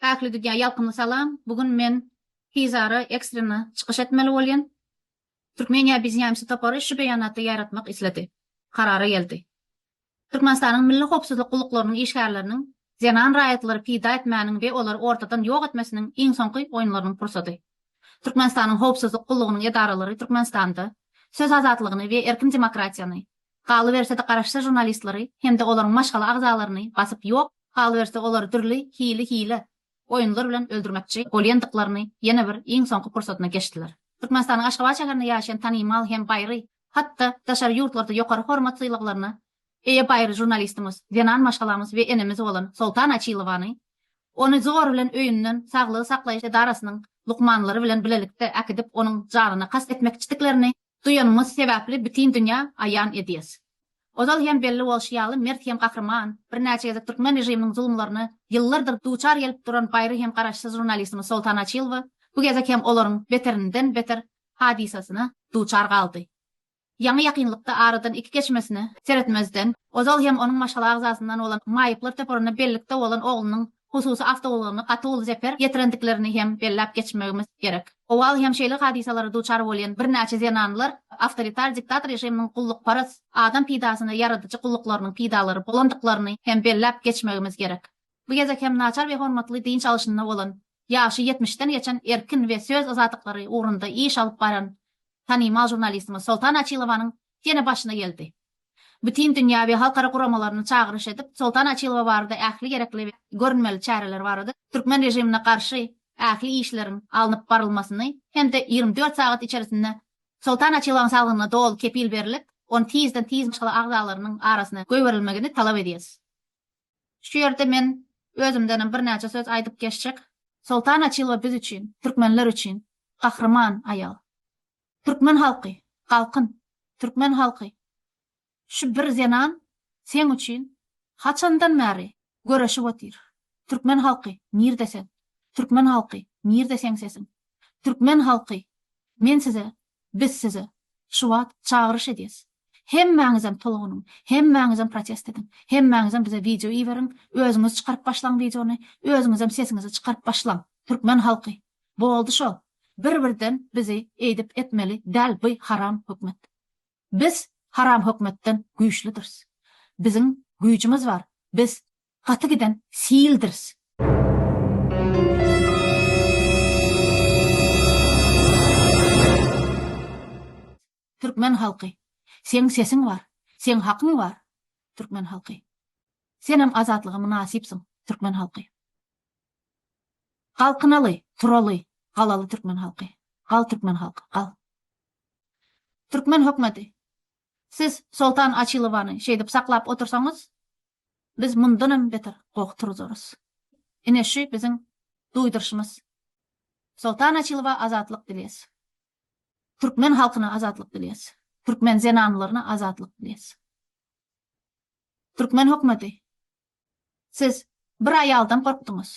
Päkli Didýa ýalkymly salam! Bu gün men tizara ekstrena çykyş etmeli bolýan. Türkmeniýa bizniamsi topary şu beýanaty ýaýratmak isledi. Karara geldi. Türkmenistanyň Milli howpsuzlyk gulluklarynyň işgärleriniň zenan raýatlary pida etmäniň we olary ortadan ýok etmesiniň iň soňky oýunlarynyň pursady. Türkmenistanyň howpsuzlyk gullugynyň edaralary Türkmenistanda söz azatlygyny we erkin demokratiýany, galyberse-de garaşsyz žurnalistleri hem-de olaryň maşgala agzalaryny basyp ýok, galyberse olary dürli hili hile oýunlar bilen öldürmekçi bolýandyklaryny ýene bir iň soňky pursatyna geçdiler. Türkmenistanyň Aşgabat şäherinde ýaşaýan tanymal hem baýry, hat-da daşary ýurtlarda ýokary hormat sylaglaryna eýe baýry žurnalistimiz, zenan maşgalamyz we enemiz bolan Soltan Açilowany ony zor bilen öýünden saglygy saklaýyş edarasynyň lukmanlary bilen bilelikde äkidip onuň janyna kast etmekçidiklerini Duýanymyz sebäpli bütin dünýä aýan edýäs. Ozal hem belli bolşy ýaly mert hem gahryman, birnäçe gezek türkmen režiminiň zulumlaryna ýyllardyr duçar gelip duran baýry hem garaşsyz žurnalistimiz Soltan Açylowa bu gezek hem olaryň beterinden beter hadysasyna duçar galdy. Ýaňy ýakynlykda aradan iki geçmesine seretmezden ozal hem onuň maşgala agzasyndan bolan maýyplar toparyna bellikde bolan oglunyň hususy awtoulagyny gaty uly zeper ýetirendiklerini hem belläp geçmegimiz gerek. Owal hem şeýle hadysalara duçar bolýan birnäçe zenanlar awtoritar diktator režiminiň gullukparaz, adam peýdasyna ýaradyjy gulluklarynyň peýdalary bolandyklaryny hem belläp geçmegimiz gerek. Bu gezek hem naçar we hormatly dynç alşynda bolan, ýaşy ýetmişden geçen erkin we söz azatlyklary ugrunda iş alyp baran tanymal žurnalistimiz Soltan Açilowanyň ýene başyna geldi. bütin dünýä we halkara guramalaryny çagyryş edip, Soltan Açylowa barada ähli gerekli we görünmeli çäreler barada türkmen režimine garşy ähli işleriň alnyp barylmasyny hem-de ýigrimi dört sagat içerisinde Soltan Açylowyň saglygyna doly kepil berlip, ony tizden tiz maşgala agzalarynyň arasyna goýberilmegini talap edýäris. Şu ýerde men özümdenem birnäçe söz aýdyp geçjek. Soltan Açylowa biz üçin, türkmenler üçin gahryman aýal. Türkmen halky, galkyn! Türkmen halky! Şu bir zenan seň üçin haçandan bäri göreşip otyr. Türkmen halky, nirde sen? Türkmen halky, nirde seň sesiň? Türkmen halky, men size, biz size şu wagt çagyryş edýäs. Hemmäňizem tolgunyň, hemmäňizem protest ediň. Hemmäňizem bize wideo iberiň, özüňiz çykaryp başlaň wideony, özüňizem sesiňizi çykaryp başlaň. Türkmen halky, Boldy şo, bir birden bizi eýdip etmeli däl by haram hökmet. Biz haram hökmetden güýçlüdiris. Biziň güýjümiz bar, biz gaty giden sildiris. Türkmen halky! Seň sesiň bar! Seň hakyň bar! Türkmen halky! Senem azatlyga mynasypsyň! Türkmen halky! Galkynaly, turaly, galaly türkmen halky! Gal türkmen halky, gal! Türkmen hökmeti! Siz Soltan Açilowany şeýdip saklap otursaňyz, biz mundanam beter goh turuzarys. Ine şü biziň duýduryşymyz. Soltan Açilowa azatlyk dileýäs! Türkmen halkyna azatlyk dilýäs. Türkmen zenanlaryna azatlyk dilýäs. Türkmen hökmeti, siz bir aýaldan gorkduňyz.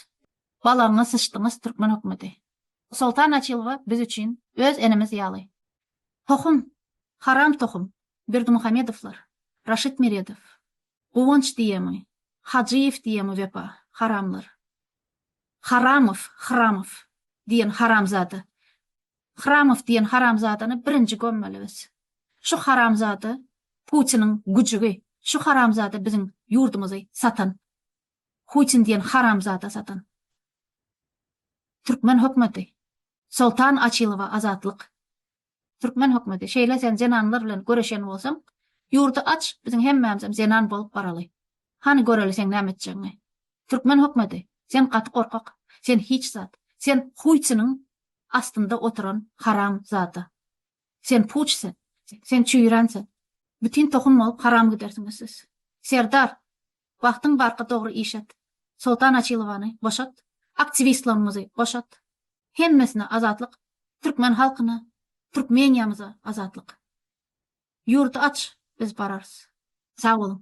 Balagyňa syçdyňyz türkmen hökmeti. Soltan Açylowa biz üçin öz enemiz ýaly. Tohum, haram tohum, Berdimuhamedowlar, Raşid Meredow, Guwanç diýemi, Hajyýew diýemi wepa, haramlar. Haramow, Hramow, diýen haramzada. Hramow diýen haramzadany birinji gömmeli biz. Şu haramzada Putiniň güjügi, şu haramzada biziň ýurdumyzy satan. Hutin diýen haramzada satan. Türkmen hökmeti. Soltan Açylowa azatlyk. Türkmen hökmeti şeýle sen zenanlar bilen göreşen bolsaň ýurdy aç biziň hemmämizem zenan bolup baraly. Hany göreli seň näme etjegiňi. Türkmen hökmeti sen gaty gorkak sen hiç zat sen huýtsynyň astynda oturan haram zada. Sen puç sen sen çüýrän sen. Bütin tohum bolup haram gidersiňiz siz. Serdar Wagtyň barka dogry iş et. Soltan Açilowany boşat. Aktiwistlarymyzy boşat. Hemmesine azatlyk. Türkmen halkyna, Türkmeniýamyza azatlyk. Ýurdy aç, biz bararys. Sag boluň.